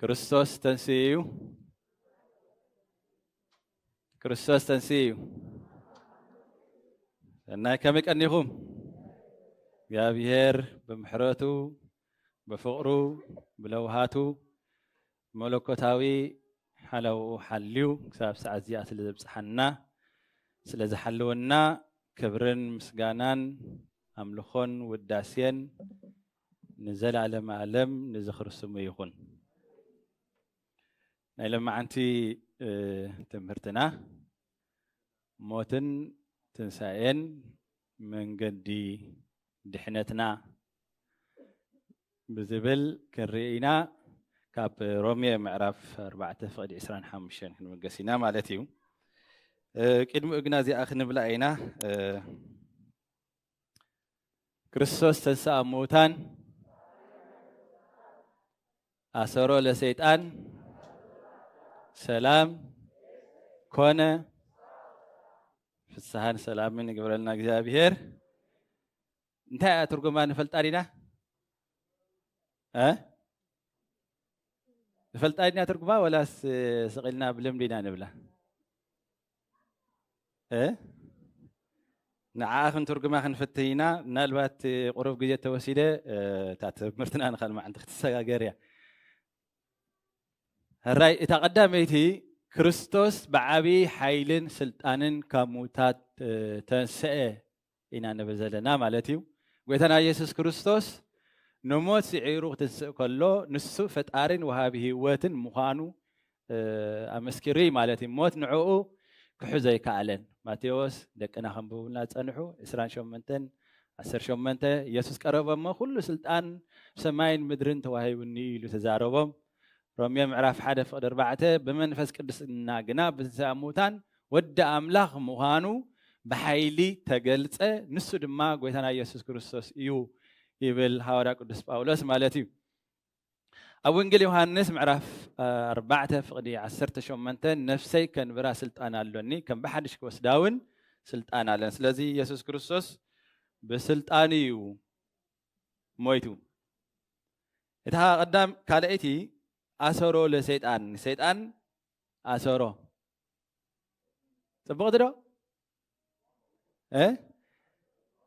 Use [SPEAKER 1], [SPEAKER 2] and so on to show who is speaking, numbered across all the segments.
[SPEAKER 1] ክርስቶስ ተንስኡ እዩ ክርስቶስ ተንስኡ እዩ ሰናይ ከመይ ቀኒኹም እግዚኣብሔር ብምሕረቱ ብፍቕሩ ብለውሃቱ መለኮታዊ ሓላውኡ ሓልዩ ክሳብ ሰዓት እዚኣ ስለ ዘብፅሓና ስለ ዝሓልወና ክብርን ምስጋናን ኣምልኾን ውዳሴን ንዘለኣለመ ኣለም ንዝኽሪ ስሙ ይኹን። ናይ ለማዓንቲ ትምህርትና ሞትን ትንሳኤን መንገዲ ድሕነትና ብዝብል ክንርኢና ካብ ሮሜ ምዕራፍ 4 ፍቅዲ 25 ክንምገስ ኢና ማለት እዩ ቅድሚኡ ግና እዚኣ ክንብላ ኢና ክርስቶስ ተንሥኣ እሙታን ኣሰሮ ለሰይጣን ሰላም ኮነ ፍስሓን ሰላምን ይግብረልና እግዚኣብሔር። እንታይ እያ ትርጉማ ንፈልጣ ዲና ንፈልጣ ዲና ትርጉማ ወላስ ስቂልና ብልምዲ ኢና ንብላ? ንዓኣ ክንትርጉማ ክንፍትን ኢና ምናልባት ቁሩብ ግዜ ተወሲደ እታ ትምህርትና ንካል መዓንቲ ክትሰጋገር እያ ሕራይ እታ ቀዳመይቲ ክርስቶስ ብዓብዪ ሓይልን ስልጣንን ካብ ምውታት ተንስአ ኢና ንብል ዘለና ማለት እዩ። ጎይታና ኢየሱስ ክርስቶስ ንሞት ስዒሩ ክትንስእ ከሎ ንሱ ፈጣሪን ወሃቢ ህይወትን ምዃኑ ኣመስኪሩ እዩ ማለት እዩ። ሞት ንዕኡ ክሕዞ ኣይከኣለን። ማቴዎስ ደቅና ከንብቡልና ዝጸንሑ 28 18 ኢየሱስ ቀረቦም እሞ ኩሉ ስልጣን ሰማይን ምድርን ተዋሂቡኒ ኢሉ ተዛረቦም። ሮሜ ምዕራፍ ሓደ ፍቕዲ ኣርባዕተ ብመንፈስ ቅዱስና ግና ብትንሣኤ ሙታን ወዲ ኣምላኽ ምዃኑ ብሓይሊ ተገልጸ፣ ንሱ ድማ ጐይታና ኢየሱስ ክርስቶስ እዩ ይብል ሃዋርያ ቅዱስ ጳውሎስ ማለት እዩ። ኣብ ወንጌል ዮሃንስ ምዕራፍ ኣርባዕተ ፍቕዲ ዓሰርተ ሸሞንተ ነፍሰይ ከንብራ ስልጣን ኣሎኒ ከም ብሓድሽ ክወስዳ እውን ስልጣን ኣለን። ስለዚ ኢየሱስ ክርስቶስ ብስልጣን እዩ ሞይቱ። እታ ቀዳም ካልኣይቲ ኣሰሮ ለሰይጣን ንሰይጣን ኣሰሮ ጽብቕቲ ዶ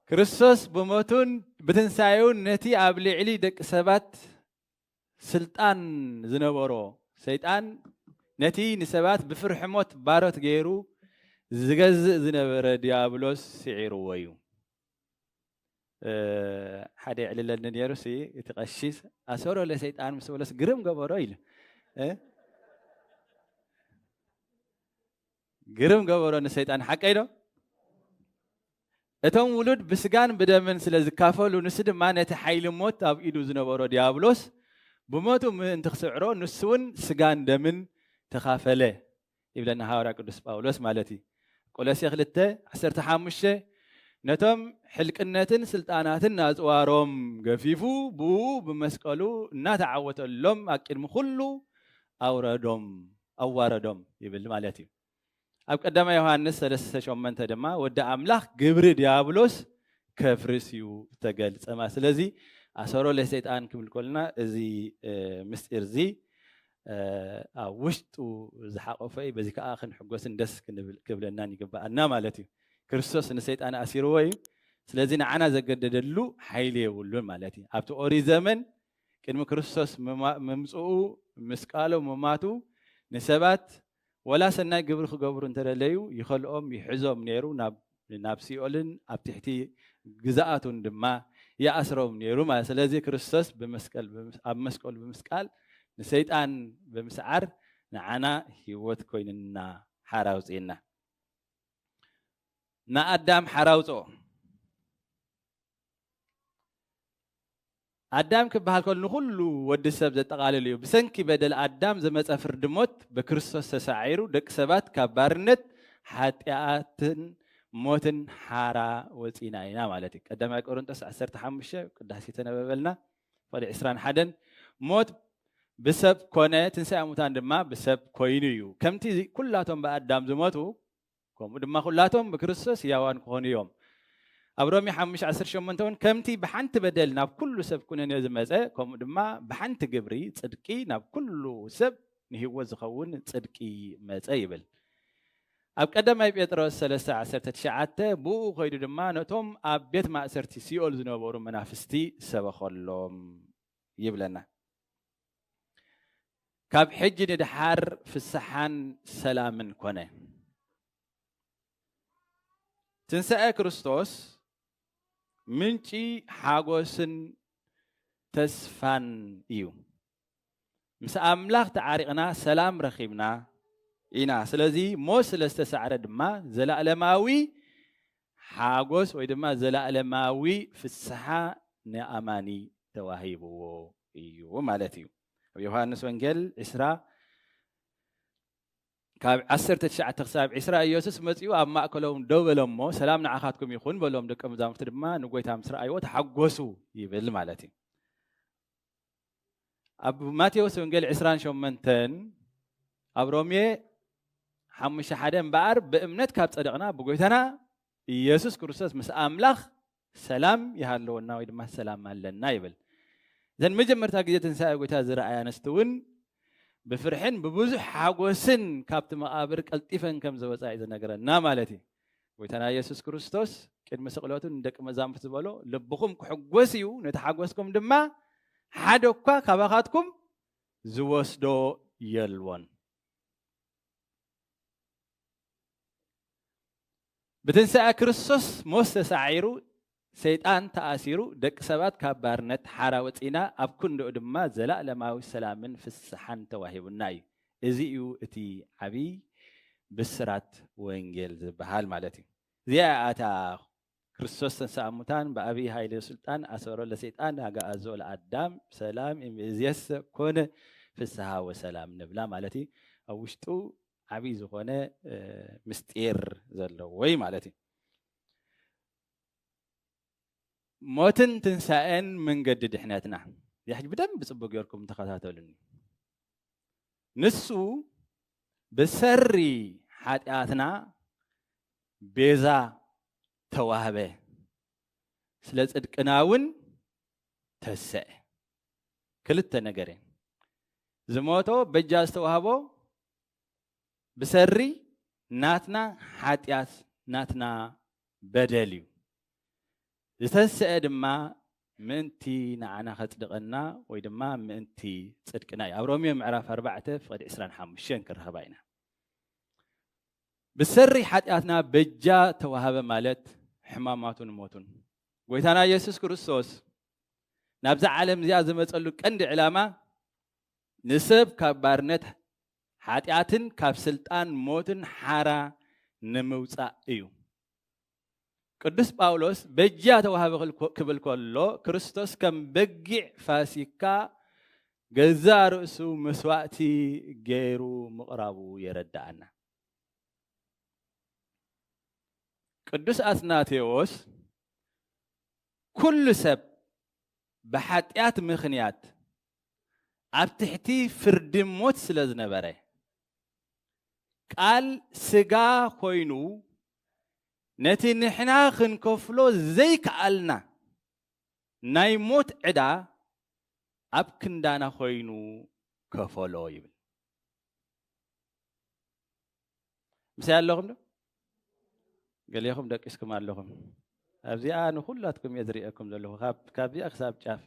[SPEAKER 1] ክርስቶስ ብሞቱን ብትንሳኤውን ነቲ ኣብ ልዕሊ ደቂ ሰባት ስልጣን ዝነበሮ ሰይጣን ነቲ ንሰባት ብፍርሒ ሞት ባሮት ገይሩ ዝገዝእ ዝነበረ ዲያብሎስ ስዒርዎ እዩ ሓደ ይዕልለኒ ነይሩ ሲ እቲ ቀሺስ ኣሰሮ ለሰይጣን ምስ በሎስ ግርም ገበሮ ኢሉ ግርም ገበሮ ንሰይጣን ሓቀይ ዶ እቶም ውሉድ ብስጋን ብደምን ስለ ዝካፈሉ ንሱ ድማ ነቲ ሓይሊ ሞት ኣብ ኢዱ ዝነበሮ ዲያብሎስ ብሞቱ ምእንቲ ክስዕሮ ንሱ እውን ስጋን ደምን ተኻፈለ ይብለና ሃዋርያ ቅዱስ ጳውሎስ ማለት እዩ። ቆሎሴ ክልተ ዓሰርተ ሓሙሽተ ነቶም ሕልቅነትን ስልጣናትን ኣጽዋሮም ገፊፉ ብእኡ ብመስቀሉ እናተዓወተሎም ኣቅድሚ ኩሉ ኣውረዶም ኣዋረዶም ይብል ማለት እዩ። ኣብ ቀዳማ ዮሃንስ ሰለስተ ሸመንተ ድማ ወዲ ኣምላኽ ግብሪ ዲያብሎስ ከፍርስ እዩ ተገልጸማ ስለዚ ኣሰሮ ለሰይጣን ክብል ኮልና እዚ ምስጢር እዚ ኣብ ውሽጡ ዝሓቆፈ እዩ በዚ ከዓ ክንሕጎስን ደስ ክብለናን ይግበኣና ማለት እዩ ክርስቶስ ንሰይጣን ኣሲርዎ እዩ ስለዚ ንዓና ዘገደደሉ ሓይሊ የብሉን ማለት እዩ ኣብቲ ኦሪት ዘመን ቅድሚ ክርስቶስ ምምፅኡ ምስቃሎ ምማቱ ንሰባት ወላ ሰናይ ግብሪ ክገብሩ እንተ ደለዩ ይኸልኦም ይሕዞም ነይሩ ናብ ናብ ሲኦልን ኣብ ትሕቲ ግዝኣቱን ድማ ይኣስሮም ነይሩ ማለት እዩ። ስለዚ ክርስቶስ ብመስቀል ብምስ ኣብ መስቀሉ ብምስቃል ንሰይጣን ብምስዓር ንዓና ህይወት ኮይኑና ሓራ ኣውጺኡና። ንኣዳም ሓራ ኣውጽኦ። ኣዳም ክበሃል ከሎ ንኹሉ ወዲ ሰብ ዘጠቓልል እዩ። ብሰንኪ በደል ኣዳም ዝመጸ ፍርዲ ሞት ብክርስቶስ ተሳዒሩ ደቂ ሰባት ካብ ባርነት ሓጢኣትን ሞትን ሓራ ወጺእና ኢና ማለት እዩ። ቀዳማይ ቆሮንጦስ ዓሰርተ ሓሙሽተ ቅዳሴ ተነበበልና ቁጽሪ ዕስራን ሓደን ሞት ብሰብ ኮነ ትንሳኤ ሙታን ድማ ብሰብ ኮይኑ እዩ። ከምቲ ኩላቶም ብኣዳም ዝሞቱ ከምኡ ድማ ኩላቶም ብክርስቶስ ሕያዋን ክኾኑ እዮም። ኣብ ሮሜ ሓሙሽተ ዓሰርተ ሸሞንተ እውን ከምቲ ብሓንቲ በደል ናብ ኩሉ ሰብ ኩነኔ ዝመጸ ከምኡ ድማ ብሓንቲ ግብሪ ጽድቂ ናብ ኩሉ ሰብ ንህይወት ዝኸውን ጽድቂ መጸ ይብል። ኣብ ቀዳማይ ጴጥሮስ ሰለስተ ዓሰርተ ትሽዓተ ብእኡ ከይዱ ድማ ነቶም ኣብ ቤት ማእሰርቲ ሲኦል ዝነበሩ መናፍስቲ ሰበኸሎም ይብለና። ካብ ሕጂ ንድሓር ፍስሓን ሰላምን ኮነ። ትንሳኤ ክርስቶስ ምንጪ ሓጎስን ተስፋን እዩ። ምስ ኣምላኽ ተዓሪቕና ሰላም ረኺብና ኢና። ስለዚ ሞት ስለ ዝተሳዕረ ድማ ዘለኣለማዊ ሓጎስ ወይ ድማ ዘለኣለማዊ ፍስሓ ንኣማኒ ተዋሂብዎ እዩ ማለት እዩ። ኣብ ዮሃንስ ወንጌል ዕስራ ካብ ዓሰርተ ትሽዓተ ክሳብ ዕስራ ኢየሱስ መጺኡ ኣብ ማእከሎም ደው በለ እሞ ሰላም ንዓኻትኩም ይኹን በሎም፣ ደቀ መዛሙርቲ ድማ ንጐይታ ምስ ረኣይዎ ተሓጐሱ ይብል ማለት እዩ። ኣብ ማቴዎስ ወንጌል ዕስራን ሸሞንተን ኣብ ሮሜ ሓሙሽተ ሓደ እምበኣር ብእምነት ካብ ጸደቕና ብጐይታና ኢየሱስ ክርስቶስ ምስ ኣምላኽ ሰላም ይሃለወና ወይ ድማ ሰላም ኣለና ይብል። እዘን መጀመርታ ግዜ ትንሳኤ ጎይታ ዝረኣያ ኣንስቲ እውን ብፍርሕን ብብዙሕ ሓጎስን ካብቲ መቓብር ቀልጢፈን ከም ዘወፃ እዩ ዝነገረና ማለት እዩ። ጎይታና ኢየሱስ ክርስቶስ ቅድሚ ስቕለቱ ንደቂ መዛሙርቲ ዝበሎ ልብኹም ክሕጎስ እዩ፣ ነቲ ሓጎስኩም ድማ ሓደ እኳ ካባኻትኩም ዝወስዶ የልቦን። ብትንሣኤ ክርስቶስ ሞት ተሳዒሩ ሰይጣን ተኣሲሩ ደቂ ሰባት ካብ ባርነት ሓራ ወፂና ኣብ ክንድኡ ድማ ዘላለማዊ ሰላምን ፍስሓን ተዋሂቡና እዩ። እዚ እዩ እቲ ዓብይ ብስራት ወንጌል ዝበሃል ማለት እዩ። እዚኣ ኣታ ክርስቶስ ተንሥኣ እሙታን በአብይ ኃይል ወሥልጣን አሰሮ ለሰይጣን አግዓዞ ለአዳም ሰላም እምይእዜሰ ኮነ ፍስሃ ወሰላም ንብላ ማለት እዩ ኣብ ውሽጡ ዓብይ ዝኾነ ምስጢር ዘለዎ እዩ ማለት እዩ። ሞትን ትንሳኤን መንገዲ ድሕነትና ሕጂ ብደንብ ጽቡቅ ጌርኩም ተኸታተሉኒ። ንሱ ብሰሪ ሓጢኣትና ቤዛ ተዋህበ፣ ስለ ጽድቅና እውን ተሰዐ ክልተ ነገር እየን ዝሞቶ በጃ ዝተዋህቦ ብሰሪ ናትና ሓጢኣት ናትና በደል እዩ ዝተሰዐ ድማ ምእንቲ ንዓና ከጽድቐና ወይ ድማ ምእንቲ ጽድቅና እዩ ኣብ ሮሚዮ ምዕራፍ 4 ፍቕዲ 25 ክረኸባ ኢና ብሰሪ ሓጢኣትና በጃ ተዋህበ ማለት ሕማማቱን ሞቱን ጐይታና ኢየሱስ ክርስቶስ ናብዛ ዓለም እዚኣ ዝመጸሉ ቀንዲ ዕላማ ንሰብ ካብ ባርነት ሓጢኣትን ካብ ስልጣን ሞትን ሓራ ንምውጻእ እዩ። ቅዱስ ጳውሎስ በጃ ተዋህበ ክብል ከሎ ክርስቶስ ከም በጊዕ ፋሲካ ገዛ ርእሱ መስዋእቲ ገይሩ ምቕራቡ የረድኣና። ቅዱስ ኣትናቴዎስ ኩሉ ሰብ ብሓጢኣት ምኽንያት ኣብ ትሕቲ ፍርዲ ሞት ስለ ዝነበረ ቃል ስጋ ኮይኑ ነቲ ንሕና ክንከፍሎ ዘይከኣልና ናይ ሞት ዕዳ ኣብ ክንዳና ኮይኑ ከፈሎ ይብል። ምስይ ኣለኹም ዶ ገሌኹም ደቂስኩም ኣለኹም ኣብዚኣ ንኩላትኩም እየ ዝርኤኩም ዘለኹ ካብዚኣ ክሳብ ጫፍ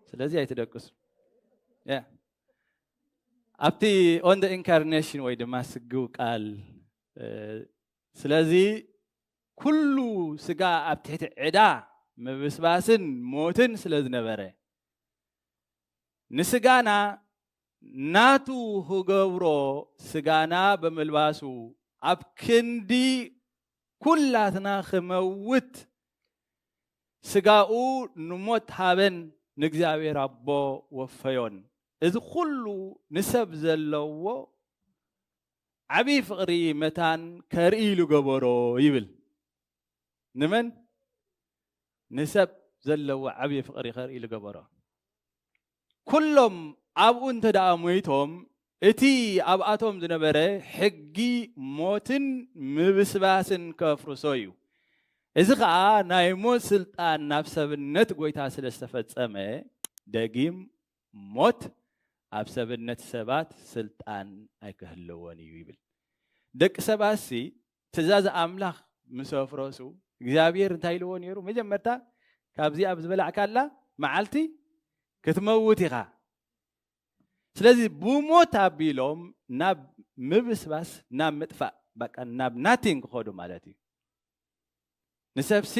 [SPEAKER 1] ስለዚ ኣይትደቅሱ ኣብቲ ኦን ደ ኢንካርኔሽን ወይ ድማ ስግው ቃል ስለዚ ኩሉ ስጋ ኣብ ትሕቲ ዕዳ ምብስባስን ሞትን ስለ ዝነበረ ንስጋና ናቱ ክገብሮ ስጋና ብምልባሱ ኣብ ክንዲ ኩላትና ክመውት ስጋኡ ንሞት ሃበን ንእግዚኣብሔር ኣቦ ወፈዮን። እዚ ኩሉ ንሰብ ዘለዎ ዓብይ ፍቕሪ መታን ከርኢ ኢሉ ገበሮ ይብል። ንመን ንሰብ ዘለዎ ዓብዪ ፍቕሪ ይኸር ኢሉ ገበሮ ኩሎም ኣብኡ እንተ ደኣ ሞይቶም እቲ ኣብኣቶም ዝነበረ ሕጊ ሞትን ምብስባስን ከፍርሶ እዩ እዚ ከዓ ናይ ሞት ስልጣን ናብ ሰብነት ጎይታ ስለ ዝተፈጸመ ደጊም ሞት ኣብ ሰብነት ሰባት ስልጣን ኣይክህለዎን እዩ ይብል ደቂ ሰባትሲ ትእዛዝ ኣምላኽ ምስ ኣፍረሱ እግዚኣብሄር እንታይ ኢልዎ ነይሩ? መጀመርታ ካብዚ ኣብ ዝበላዕካላ መዓልቲ ክትመውት ኢኻ። ስለዚ ብሞት ኣቢሎም ናብ ምብስባስ ናብ ምጥፋእ በቃ ናብ ናቲንግ ክኸዱ ማለት እዩ። ንሰብሲ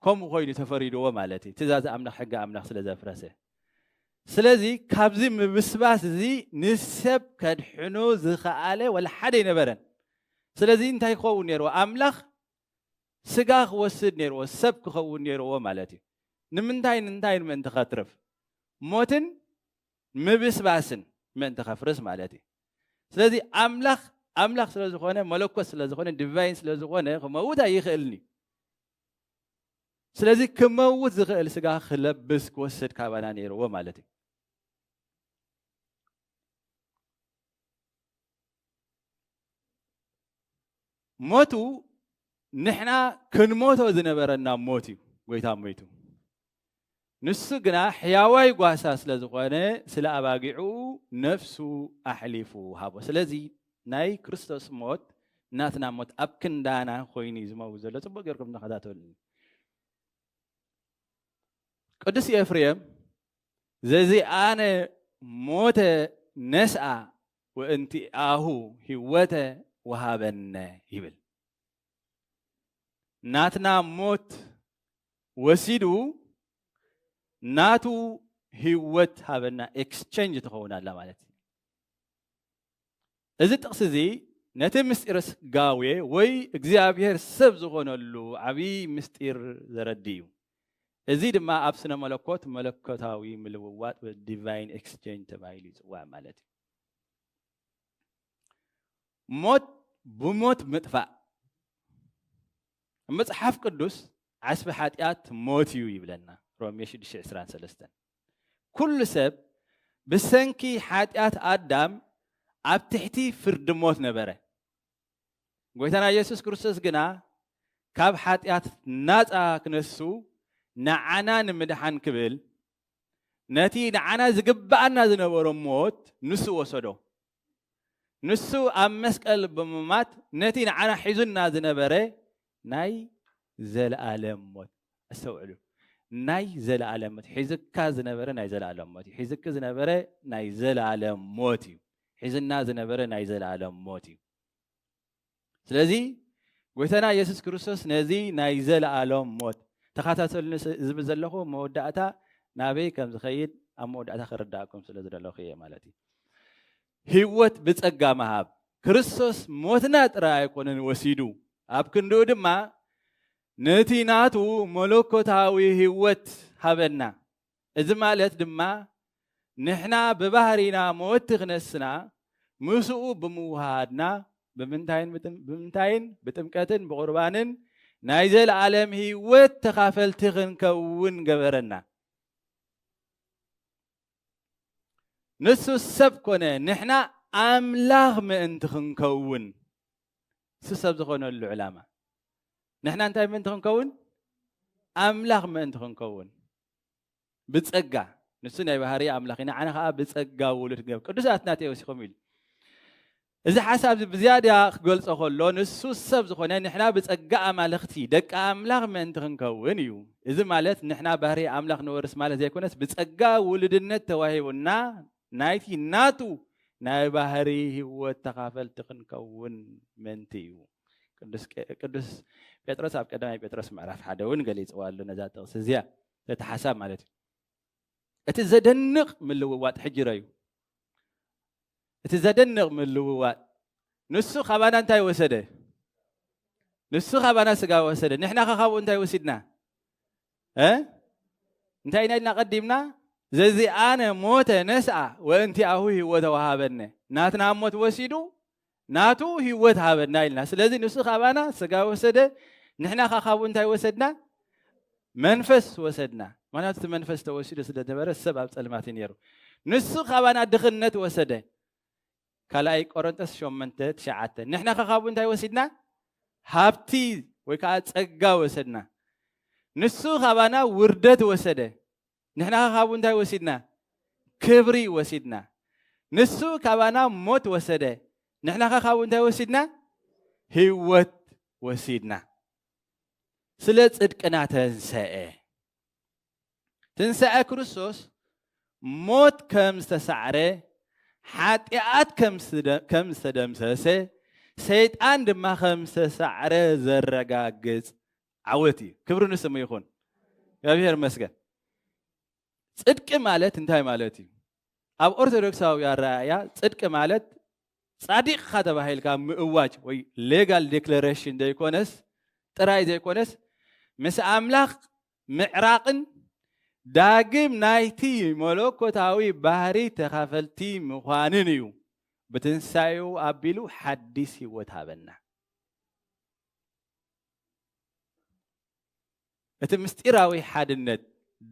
[SPEAKER 1] ከምኡ ኮይኑ ተፈሪድዎ ማለት እዩ ትእዛዝ ኣምላኽ ሕጊ ኣምላኽ ስለ ዘፍረሰ ስለዚ ካብዚ ምብስባስ እዚ ንሰብ ከድሕኑ ዝኸኣለ ወላ ሓደ ኣይነበረን ስለዚ እንታይ ክኸውን ነይርዎ ኣምላኽ ስጋ ክወስድ ነይርዎ ሰብ ክኸውን ነይርዎ ማለት እዩ ንምንታይ ንንታይ ንምእንቲ ከትርፍ ሞትን ምብስባስን ምእንቲ ከፍርስ ማለት እዩ ስለዚ ኣምላኽ ኣምላኽ ስለ ዝኾነ መለኮት ስለ ዝኾነ ዲቫይን ስለ ዝኾነ ክመውት ኣይኽእልን እዩ ስለዚ ክመውት ዝኽእል ስጋ ክለብስ ክወስድ ካባና ነይርዎ ማለት እዩ ሞቱ ንሕና ክንሞቶ ዝነበረና ሞት እዩ ጎይታ ሞይቱ ንሱ ግና ሕያዋይ ጓሳ ስለ ዝኾነ ስለ ኣባጊዑ ነፍሱ ኣሕሊፉ ሃቦ ስለዚ ናይ ክርስቶስ ሞት ናትና ሞት ኣብ ክንዳና ኮይኑ እዩ ዝመው ዘሎ ፅቡቅ ገርኩም ተኸታተሉ ቅዱስ ኤፍሬም ዘዚ ኣነ ሞተ ነስኣ ወእንቲኣሁ ህይወተ ወሃበነ ይብል። ናትና ሞት ወሲዱ ናቱ ህይወት ሃበና ኤክስቸንጅ ትኸውን ኣላ ማለት እዩ። እዚ ጥቕሲ እዚ ነቲ ምስጢር ስጋዌ ወይ እግዚኣብሔር ሰብ ዝኾነሉ ዓብዪ ምስጢር ዘረድእ እዩ። እዚ ድማ ኣብ ስነ መለኮት መለኮታዊ ምልውዋጥ ወይ ዲቫይን ኤክስቼንጅ ተባሂሉ ይጽዋዕ ማለት እዩ። ሞት ብሞት ምጥፋእ መጽሓፍ ቅዱስ ዓስቢ ሓጢኣት ሞት እዩ ይብለና ሮሜ 6:23 ኩሉ ሰብ ብሰንኪ ሓጢኣት ኣዳም ኣብ ትሕቲ ፍርዲ ሞት ነበረ ጎይታና ኢየሱስ ክርስቶስ ግና ካብ ሓጢኣት ናፃ ክነሱ ንዓና ንምድሓን ክብል ነቲ ንዓና ዝግብኣና ዝነበሮ ሞት ንሱ ወሰዶ። ንሱ ኣብ መስቀል ብምማት ነቲ ንዓና ሒዙና ዝነበረ ናይ ዘለኣለም ሞት ኣስተውዕሉ ናይ ዘለኣለም ሞት ሒዝካ ዝነበረ ናይ ዘለኣለም ሞት እዩ ሒዝኪ ዝነበረ ናይ ዘለኣለም ሞት እዩ ሒዝና ዝነበረ ናይ ዘለኣለም ሞት እዩ ስለዚ ጎይታና የሱስ ክርስቶስ ነዚ ናይ ዘለኣሎም ሞት ተኸታተሉኒ ዝብል ዘለኹ መወዳእታ ናበይ ከም ዝኸይድ ኣብ መወዳእታ ክርዳእኩም ስለ ዝደለኹ እየ ማለት እዩ ህይወት ብጸጋ ምሃብ፣ ክርስቶስ ሞትና ጥራይ ኣይኮነን ወሲዱ፣ ኣብ ክንድኡ ድማ ነቲ ናቱ መለኮታዊ ህይወት ሃበና። እዚ ማለት ድማ ንሕና ብባህሪና መወቲ ክነስና ምስኡ ብምውህሃድና ብምንታይን ብጥምቀትን ብቑርባንን ናይ ዘለኣለም ህይወት ተኻፈልቲ ክንከውን ገበረና። ንሱ ሰብ ኮነ ንሕና ኣምላኽ ምእንቲ ክንከውን ንሱ ሰብ ዝኾነሉ ዕላማ ንሕና እንታይ ምእንቲ ክንከውን ኣምላኽ ምእንቲ ክንከውን ብጸጋ ንሱ ናይ ባህሪ ኣምላኽ ኢና ዓነ ከዓ ብጸጋ ውሉድ ገብ ቅዱስ ኣትናቴዎስ ይኹም ኢሉ እዚ ሓሳብዚ ብዝያዳ ክገልጾ ከሎ ንሱ ሰብ ዝኾነ ንሕና ብጸጋ ኣማልኽቲ፣ ደቂ ኣምላኽ፣ ምእንቲ ክንከውን እዩ። እዚ ማለት ንሕና ባህርይ ኣምላኽ ንወርስ ማለት ዘይኮነስ ብጸጋ ውሉድነት ተዋሂቡና ናይቲ ናቱ ናይ ባህርይ ህይወት ተኻፈልቲ ክንከውን ምእንቲ እዩ። ቅዱስ ጴጥሮስ ኣብ ቀዳማይ ጴጥሮስ ምዕራፍ ሓደ እውን ገሊጽዋ ኣሎ ነዛ ጥቕሲ እዚኣ ነቲ ሓሳብ ማለት እዩ። እቲ ዘደንቕ ምልውዋጥ ሕጂ ረዩ። እቲ ዘደንቕ ምልውዋጥ ንሱ ካባና እንታይ ወሰደ? ንሱ ካባና ስጋ ወሰደ። ንሕና ከ ካብኡ እንታይ ወሲድና? እንታይ ኢና ኢልና ቀዲምና? ዘዚኣነ ሞተ ነስኣ ወእንቲኣሁ ህይወተ ወሃበነ። ናትና ሞት ወሲዱ ናቱ ህይወት ሃበና ኢልና ስለዚ ንሱ ካባና ስጋ ወሰደ ንሕና ከ ካብኡ እንታይ ወሰድና መንፈስ ወሰድና ምክንያቱ እቲ መንፈስ ተወሲዱ ስለ ዝነበረ ሰብ ኣብ ፀልማት እዩ ነይሩ ንሱ ካባና ድኽነት ወሰደ ካልኣይ ቆረንጦስ ሸመንተ ትሽዓተ ንሕና ከ ካብኡ እንታይ ወሲድና ሃብቲ ወይ ከዓ ፀጋ ወሰድና ንሱ ካባና ውርደት ወሰደ ንሕናኸ ካብኡ እንታይ ወሲድና? ክብሪ ወሲድና። ንሱ ካባና ሞት ወሰደ፣ ንሕናኸ ካብኡ እንታይ ወሲድና? ህይወት ወሲድና። ስለ ጽድቅና ተንሰአ። ትንሳኤ ክርስቶስ ሞት ከም ዝተሳዕረ፣ ሓጢኣት ከም ዝተደምሰሰ፣ ሰይጣን ድማ ከም ዝተሳዕረ ዘረጋግጽ ዓወት እዩ ክብሪ ንስሙ ይኹን እግዚኣብሔር መስገን ፅድቂ ማለት እንታይ ማለት እዩ ኣብ ኦርቶዶክሳዊ ኣረኣእያ ፅድቂ ማለት ፃዲቕካ ተባሂልካ ምእዋጅ ወይ ሌጋል ዴክለሬሽን ዘይኮነስ ጥራይ ዘይኮነስ ምስ ኣምላኽ ምዕራቕን ዳግም ናይቲ መለኮታዊ ባህሪ ተኻፈልቲ ምዃንን እዩ ብትንሳኤኡ ኣቢሉ ሓዲስ ህይወት ሃበና እቲ ምስጢራዊ ሓድነት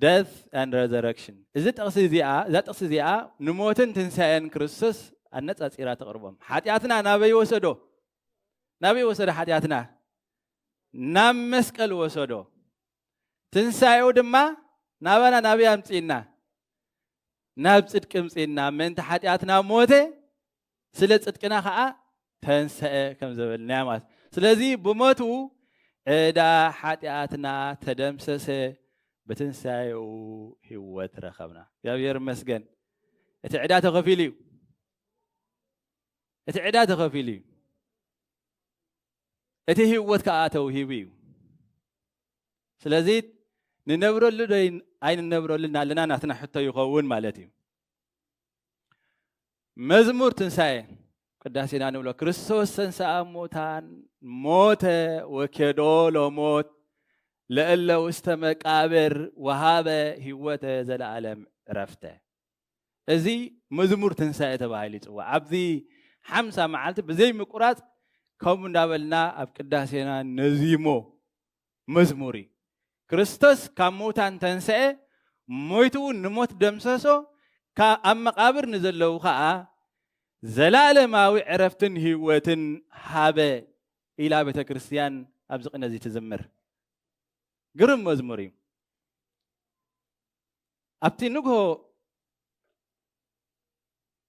[SPEAKER 1] ደት ን ረዘረክሽን እዚ ጥቕሲ እዚኣ እዛ ጥቕሲ እዚኣ ንሞትን ትንሳኤን ክርስቶስ ኣነፃፂራ ተቕርቦም ሓጢኣትና ናበይ ወሰዶ ናበይ ወሰዶ ሓጢኣትና ናብ መስቀል ወሰዶ ትንሳኤኡ ድማ ናባና ናበይ ኣምፅእና ናብ ፅድቂ ምፅእና ምእንቲ ሓጢኣትና ሞተ ስለ ጽድቅና ከኣ ተንሰአ ከም ዘበልናያ ማለት ስለዚ ብሞቱ ዕዳ ሓጢኣትና ተደምሰሰ ብትንሳኤኡ ህይወት ረኸብና እግዚኣብሔር ይመስገን እቲ ዕዳ ተኸፊሉ እዩ እቲ ዕዳ ተኸፊሉ እዩ እቲ ህይወት ከዓ ተውሂቡ እዩ ስለዚ ንነብረሉ ዶ ኣይንነብረሉ እናለና ናትና ሕቶ ይኸውን ማለት እዩ መዝሙር ትንሣኤ ቅዳሴና ንብሎ ክርስቶስ ተንሥኣ እሙታን ሞተ ወኬዶ ለሞት ለእለ ውስተ መቃብር ወሃበ ህይወተ ዘለዓለም ዕረፍተ እዚ መዝሙር ትንሳኤ ተባሂሉ ይፅዋዕ ኣብዚ ሓምሳ መዓልቲ ብዘይ ምቁራፅ ከምኡ እንዳበልና ኣብ ቅዳሴና ነዚሞ መዝሙር እዩ። ክርስቶስ ካብ ምዉታን ተንስኤ፣ ሞይቱ እውን ንሞት ደምሰሶ፣ ኣብ መቓብር ንዘለዉ ኸኣ ዘለኣለማዊ ዕረፍትን ህይወትን ሃበ ኢላ ቤተ ክርስቲያን ኣብዚ ቅነ እዚ ትዝምር። ግርም መዝሙር እዩ። ኣብቲ ንግሆ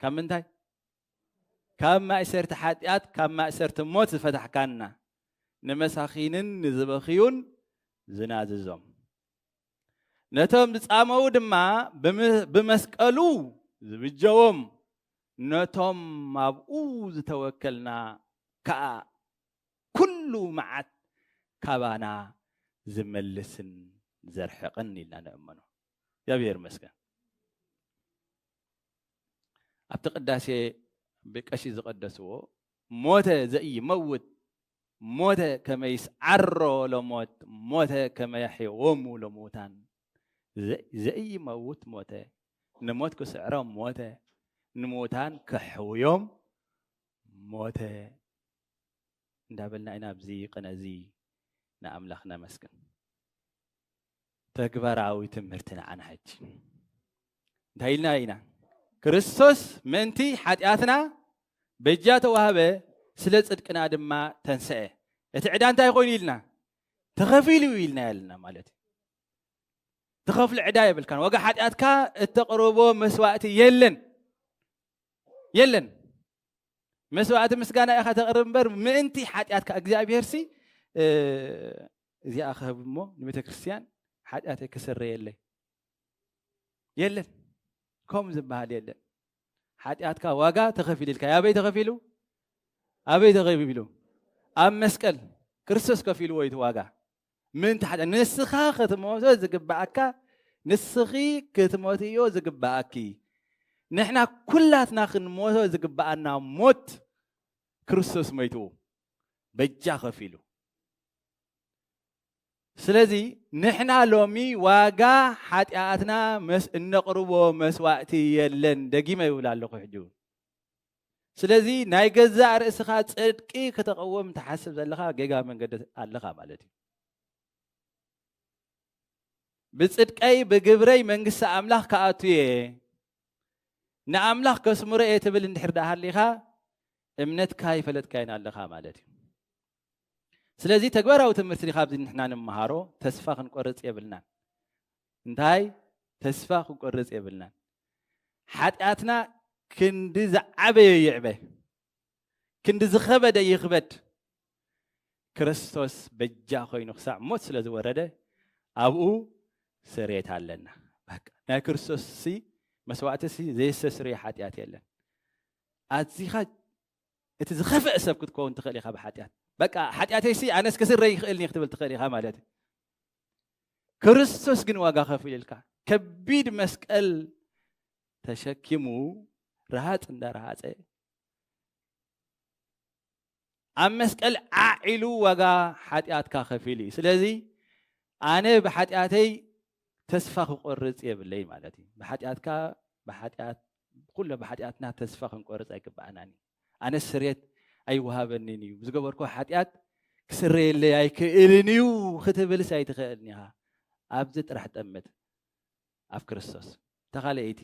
[SPEAKER 1] ካብ ምንታይ ካብ ማእሰርቲ ሓጢኣት ካብ ማእሰርቲ ሞት ዝፈታሕካና ንመሳኺንን ንዝበኽዩን ዝናዝዞም ነቶም ዝጻመዉ ድማ ብመስቀሉ ዝብጀዎም ነቶም ኣብኡ ዝተወከልና ከዓ ኩሉ መዓት ካባና ዝመልስን ዘርሕቕን ኢልና ንእመኖ እግዚኣብሔር ይመስገን ኣብቲ ቅዳሴ ብቀሺ ዝቐደስዎ ሞተ ዘኢይመውት ሞተ ከመይስ ዓሮ ለሞት ሞተ ከመያሕየዎሙ ለሙታን ዘኢይመውት ሞተ ንሞት ክስዕሮም ሞተ ንሙታን ከሕውዮም ሞተ እንዳበልና ኢና ኣብዚ ቅነ እዚ ንኣምላኽ ነመስግን። ተግባራዊ ትምህርቲ ንዓና ሕጂ እንታይ ኢልና ኢና ክርስቶስ ምእንቲ ሓጢኣትና በጃ ተዋህበ ስለ ጽድቅና ድማ ተንስአ እቲ ዕዳ እንታይ ኮይኑ ኢልና ተኸፊሉ ኢልና ያለና ማለት እዩ ትኸፍሉ ዕዳ የብልካን ዋጋ ሓጢኣትካ እተቕርቦ መስዋእቲ የለን የለን መስዋእቲ ምስጋና ኢኻ ተቕርብ እምበር ምእንቲ ሓጢኣትካ እግዚኣብሄርሲ እዚኣ ክህብ እሞ ንቤተ ክርስቲያን ሓጢኣተይ ክስረየለይ የለን ከምኡ ዝበሃል የለን ሓጢኣትካ ዋጋ ተኸፊሉ ኢልካ ኣበይ ተኸፊሉ ኣበይ ተኸፊሉ ኣብ መስቀል ክርስቶስ ከፊልዎ እዩ ዋጋ ምእንቲ ሓጢኣት ንስኻ ክትሞቶ ዝግባኣካ ንስኺ ክትሞትዮ ዝግባኣኪ ንሕና ኩላትና ክንሞቶ ዝግባኣና ሞት ክርስቶስ ሞይትዎ በጃ ከፊሉ ስለዚ ንሕና ሎሚ ዋጋ ሓጢኣትና መስ እነቕርቦ መስዋእቲ የለን ደጊመ ይብል ኣለኹ ሕጂ እውን ስለዚ ናይ ገዛእ ርእስኻ ጽድቂ ክተቐወም ትሓስብ ዘለኻ ጌጋ መንገዲ ኣለኻ ማለት እዩ ብጽድቀይ ብግብረይ መንግስቲ ኣምላኽ ክኣቱ እየ ንኣምላኽ ከስምሮ እየ ትብል እንድሕር ደኣ ሃሊኻ እምነትካ ይፈለጥካይን ኣለኻ ማለት እዩ ስለዚ ተግባራዊ ትምህርቲ ካብዚ ንሕና ንመሃሮ ተስፋ ክንቆርፅ የብልናን እንታይ ተስፋ ክንቆርፅ የብልናን ሓጢኣትና ክንዲ ዝዓበየ ይዕበ ክንዲ ዝኸበደ ይኽበድ ክርስቶስ በጃ ኮይኑ ክሳዕ ሞት ስለ ዝወረደ ኣብኡ ስሬት ኣለና ናይ ክርስቶስ ሲ መስዋእቲ ሲ ዘየሰስርዮ ሓጢኣት የለን ኣዚኻ እቲ ዝኸፍዐ ሰብ ክትከውን ትኽእል ኢኻ ብሓጢኣት በቃ ሓጢኣተይሲ ኣነስ ክስረይ ይኽእልኒ ክትብል ትኽእል ኢኻ ማለት እዩ ክርስቶስ ግን ዋጋ ከፊልልካ ከቢድ መስቀል ተሸኪሙ ረሃፅ እንዳረሃፀ ኣብ መስቀል ዓዒሉ ዋጋ ሓጢኣትካ ከፊሉ እዩ ስለዚ ኣነ ብሓጢኣተይ ተስፋ ክቆርፅ የብለይ ማለት እዩ ብሓጢኣትካ ብሓጢኣት ኩሎ ብሓጢኣትና ተስፋ ክንቆርጽ ኣይግብኣናን እዩ። ኣነስ ስርየት ኣይወሃበኒን እዩ፣ ዝገበርኩዎ ሓጢኣት ክስረየለይ ኣይክእልን እዩ ክትብልስ ኣይትኽእልን ኢኻ። ኣብዚ ጥራሕ ጠምት ኣብ ክርስቶስ። እታ ካልኣይቲ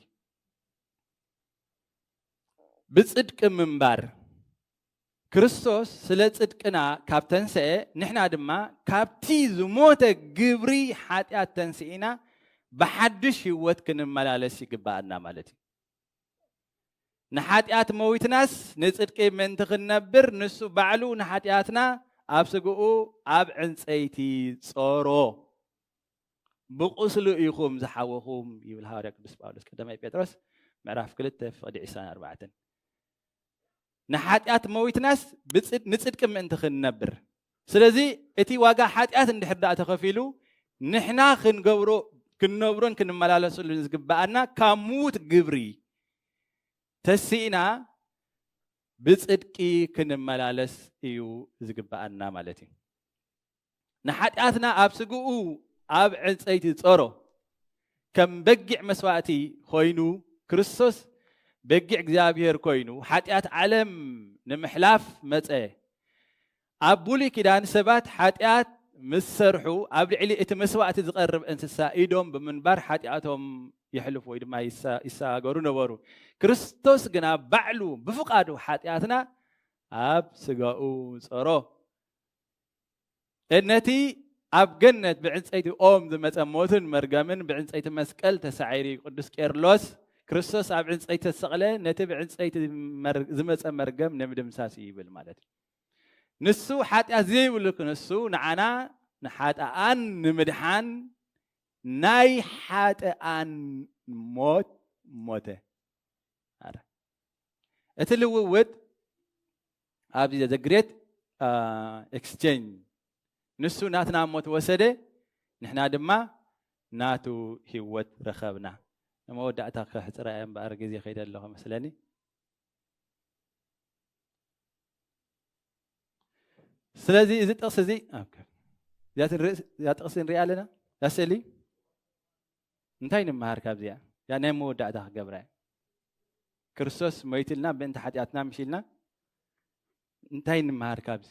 [SPEAKER 1] ብጽድቂ ምንባር ክርስቶስ ስለ ጽድቅና ካብ ተንሰኤ ንሕና ድማ ካብቲ ዝሞተ ግብሪ ሓጢኣት ተንሲኢና ብሓድሽ ህይወት ክንመላለስ ይግብኣና ማለት እዩ። ንሓጢኣት መዊትናስ ንጽድቂ ምእንቲ ክንነብር ንሱ ባዕሉ ንሓጢኣትና ኣብ ስግኡ ኣብ ዕንጸይቲ ጾሮ። ብቁስሉ ኢኹም ዝሓወኹም ይብል ሃዋርያ ቅዱስ ጳውሎስ ቀዳማይ ጴጥሮስ ምዕራፍ ክልተ ፍቕዲ ዕስራን ኣርባዕተን። ንሓጢኣት መዊትናስ ንጽድቂ ምእንቲ ክንነብር ስለዚ እቲ ዋጋ ሓጢኣት እንድሕር ደኣ ተኸፊሉ ንሕና ክንገብሮ ክንነብሮን ክንመላለሰሉን ዝግብኣና ካብ ምዉት ግብሪ ተሲእና ብጽድቂ ክንመላለስ እዩ ዝግብኣና ማለት እዩ ንሓጢኣትና ኣብ ስግኡ ኣብ ዕንጸይቲ ጸሮ ከም በጊዕ መስዋእቲ ኮይኑ ክርስቶስ በጊዕ እግዚኣብሔር ኮይኑ ሓጢኣት ዓለም ንምሕላፍ መጸ። ኣብ ብሉይ ኪዳን ሰባት ሓጢኣት ምስ ሰርሑ ኣብ ልዕሊ እቲ መስዋእቲ ዝቐርብ እንስሳ ኢዶም ብምንባር ሓጢኣቶም የሕልፉ ወይ ድማ ይሰጋገሩ ነበሩ ክርስቶስ ግና ባዕሉ ብፍቓዱ ሓጢኣትና ኣብ ስጋኡ ጸሮ ነቲ ኣብ ገነት ብዕንፀይቲ ኦም ዝመፀ ሞትን መርገምን ብዕንፀይቲ መስቀል ተሳዒሩ እዩ። ቅዱስ ቄርሎስ ክርስቶስ ኣብ ዕንፀይቲ ተሰቕለ ነቲ ብዕንፀይቲ ዝመፀ መርገም ንምድምሳስ እዩ ይብል ማለት እዩ። ንሱ ሓጢኣት ዘይብሉ ክንሱ ንዓና ንሓጥኣን ንምድሓን ናይ ሓጥኣን ሞት ሞተ። እቲ ልውውጥ ኣብዚ ዘግሬት ኤክስቼንጅ ንሱ ናትና ሞት ወሰደ ንሕና ድማ ናቱ ህይወት ረኸብና ንመወዳእታ ከሕፅራ እየ እምበኣር ግዜ ከይደ ኣለኹ መስለኒ ስለዚ እዚ ጥቕሲ እዚ እዚኣ ጥቕሲ ንሪኣ ኣለና እዛ ስእሊ እንታይ ንመሃር ካብዚኣ እዚኣ ናይ መወዳእታ ክገብራ እያ ክርስቶስ ሞይትልና ብእንቲ ሓጢኣትና ምሽ ኢልና እንታይ ንመሃር ካብዚ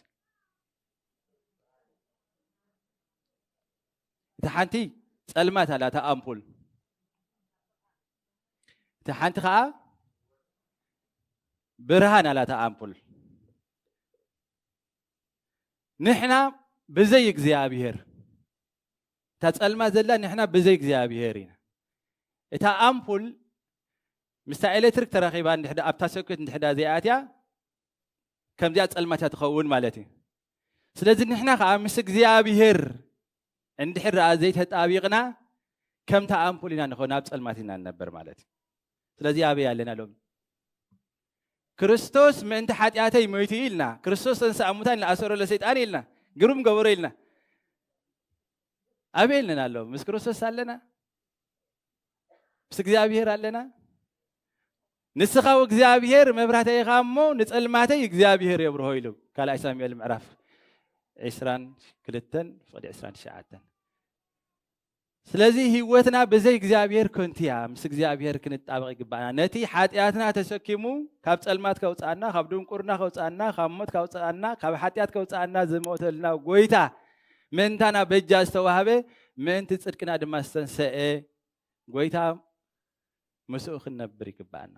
[SPEAKER 1] እቲ ሓንቲ ፀልማት ኣላ እታ ኣምፑል እቲ ሓንቲ ከዓ ብርሃን ኣላ እታ ኣምፑል ንሕና ብዘይ እግዚኣብሄር እታ ጸልማት ዘላ ንሕና ብዘይ እግዚኣብሄር ኢና። እታ ኣምፑል ምስታ ኤሌክትሪክ ተራኺባ እንድሕዳ ኣብታ ሶኬት እንድሕዳ ዘይኣትያ ከምዚኣ ጸልማት እያ ትኸውን ማለት እዩ። ስለዚ ንሕና ከዓ ምስ እግዚኣብሄር እንድሕር ደኣ ዘይተጣቢቕና ከምታ ኣምፑል ኢና ንኸውን ኣብ ጸልማት ኢና ንነበር ማለት እዩ። ስለዚ ኣበይ ኣለና ሎሚ? ክርስቶስ ምእንቲ ሓጢኣተይ ሞይቱ እዩ ኢልና ክርስቶስ ተንስኣ ሙታን ኢልና ኣሰሮ ለሰይጣን ኢልና ግሩም ገበሮ ኢልና ኣበይ ኣለና ኣሎ ምስ ክርስቶስ ኣለና ምስ እግዚኣብሄር ኣለና ንስኻ እግዚኣብሄር መብራህተይ ኢኻ እሞ ንፀልማተይ እግዚኣብሄር የብርሆ ኢሉ ካልኣይ ሳሙኤል ምዕራፍ ዕስራን ክልተን ፍቕዲ ዕስራን ትሽዓተን ስለዚ ህይወትና ብዘይ እግዚኣብሔር ከንቱ እያ። ምስ እግዚኣብሔር ክንጣበቕ ይግባእና። ነቲ ሓጢኣትና ተሰኪሙ ካብ ጸልማት ከውጽኣና፣ ካብ ድንቁርና ከውጽኣና፣ ካብ ሞት ከውጽኣና፣ ካብ ሓጢኣት ከውጽኣና ዝሞተልና ጎይታ ምእንታና በጃ ዝተዋህበ ምእንቲ ጽድቅና ድማ ዝተንሰኤ ጎይታ ምስኡ ክንነብር ይግባእና።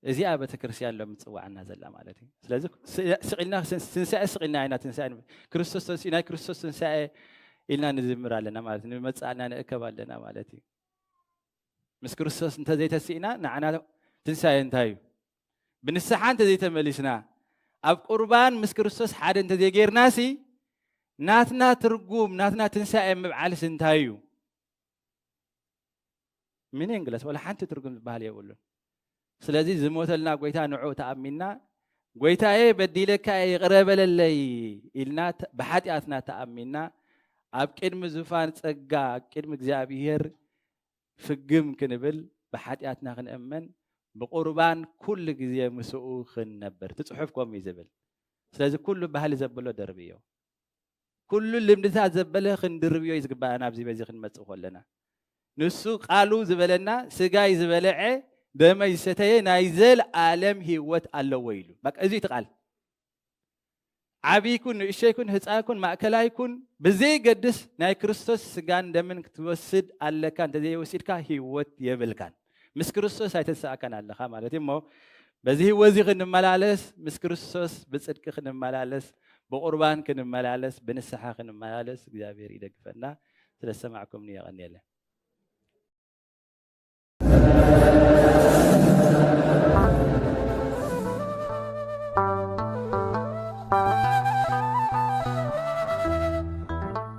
[SPEAKER 1] እዚኣ ቤተክርስትያን ሎሚ ትጽዋዓና ዘላ ማለት እዩ ስለዚ ስቂልና ትንሳኤ ስቂልና ኢና ትንሳኤ ክርስቶስ ተንስኡ ናይ ክርስቶስ ትንሳኤ ኢልና ንዝምር ኣለና ማለት እዩ ንመጻእና ንእከብ ኣለና ማለት እዩ ምስ ክርስቶስ እንተዘይተስእና ንዓና ትንሳኤ እንታይ እዩ ብንስሓ እንተዘይተመሊስና ኣብ ቁርባን ምስ ክርስቶስ ሓደ እንተዘይጌርና ሲ ናትና ትርጉም ናትና ትንሳኤ ምብዓልሲ እንታይ እዩ ሚኒንግለስ ወላ ሓንቲ ትርጉም ዝበሃል የብሉን። ስለዚ ዝሞተልና ጎይታ ንዑ ተኣሚንና ጎይታዬ በዲለካ ይቕረ በለለይ ኢልና ብሓጢኣትና ተኣሚንና ኣብ ቅድሚ ዙፋን ጸጋ ኣብ ቅድሚ እግዚኣብሄር ፍግም ክንብል ብሓጢኣትና ክንእመን ብቑርባን ኩሉ ግዜ ምስኡ ክንነብር እቲ ጽሑፍ ከምኡ እዩ ዝብል ስለዚ ኩሉ ባህሊ ዘብሎ ደርቢ እዩ ኩሉ ልምድታት ዘበለ ክንድርብዮ እዩ ዝግባእና ኣብዚ በዚ ክንመጽእ ከለና ንሱ ቃሉ ዝበለና ስጋይ ዝበለዐ ደመይ ዝሰተየ ናይ ዘልኣለም ህይወት ኣለዎ ኢሉ በቃ እዚ እቲ ቃል ዓብይኩን ንእሸይኩን ህፃንኩን ማእከላይኩን ብዘይገድስ ናይ ክርስቶስ ስጋን ደምን ክትወስድ ኣለካ እንተዘይወሲድካ ህይወት የብልካን ምስ ክርስቶስ ኣይተሰኣካን ኣለኻ ማለት እዩ እሞ በዚ ህይወት እዚ ክንመላለስ ምስ ክርስቶስ ብፅድቂ ክንመላለስ ብቁርባን ክንመላለስ ብንስሓ ክንመላለስ እግዚኣብሔር ይደግፈና ስለዝሰማዕኩምኒ የቐኒየለ